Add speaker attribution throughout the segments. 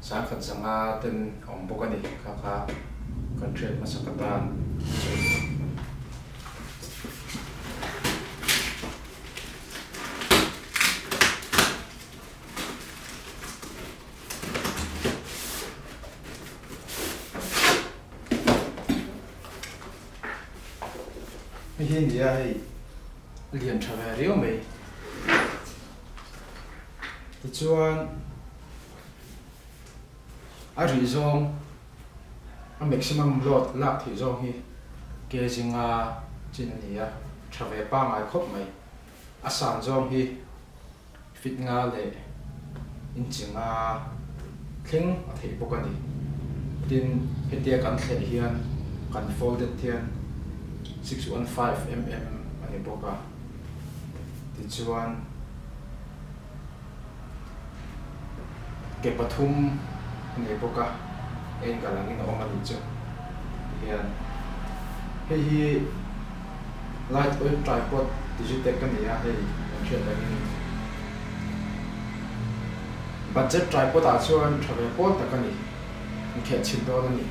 Speaker 1: Sangkhat sanga ten awm bawk a ni kha kha kan hriat hmasa ka tan mi hi nia hei lian tha ve riau mai tichuan. A rih zawng a maximum load lak thih zawng hi ke zinga chin a ni a, tha ve pangai khawp mai. A san zawng hi feet nga leh inchi nga thleng a theih bawk a ni. Tin, hetia kan thleh hian kan folded hian six one five mm a ni bawk a, tichuan. Ke pathum a nei bawk a, angle angin a awm a nih chu. Ti hian hei hi light oil tripod Digitech a ni a, hei kan hriat dangin budget tripod ah chuan tha ve pawl tak a ni, inkheh chhin dawn a ni.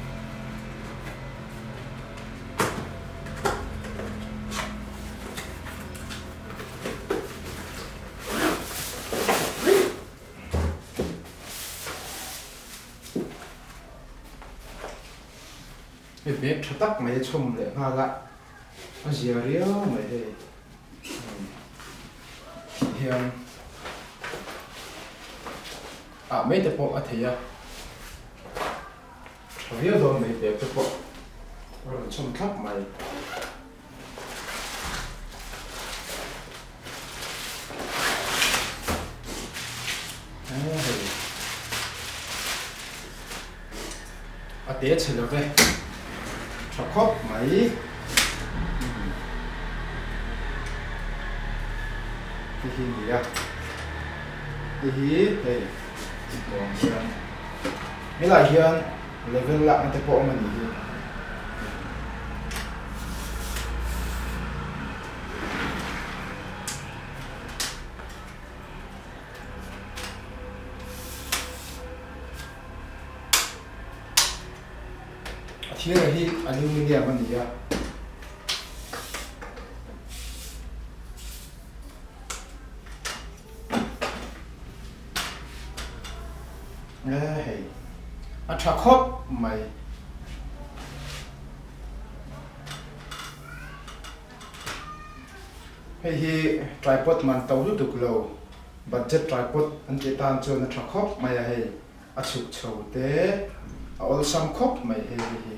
Speaker 1: Hei hmel tha tak mai a chhawm leh nghal a, a zia riau mai hei tih hian ah mai te pawh a thei a, tha viau dawn mai bag te pawh a rawn chhawm thlap mai. a te chhe lo ve tha khawp mai hei hi a nia hei hi hei ti tuam hian helai hian. Level lakna te pawh awm a nih hi. A thir reh hi aluminium a ni a. E hei. A tha khawp mai. Hei hi tripod man to lutuk lo. Budget tripod an tih tan chuan a tha khawp mai a hei. A chhuk chho te. A awlsam khawp mai hei hi.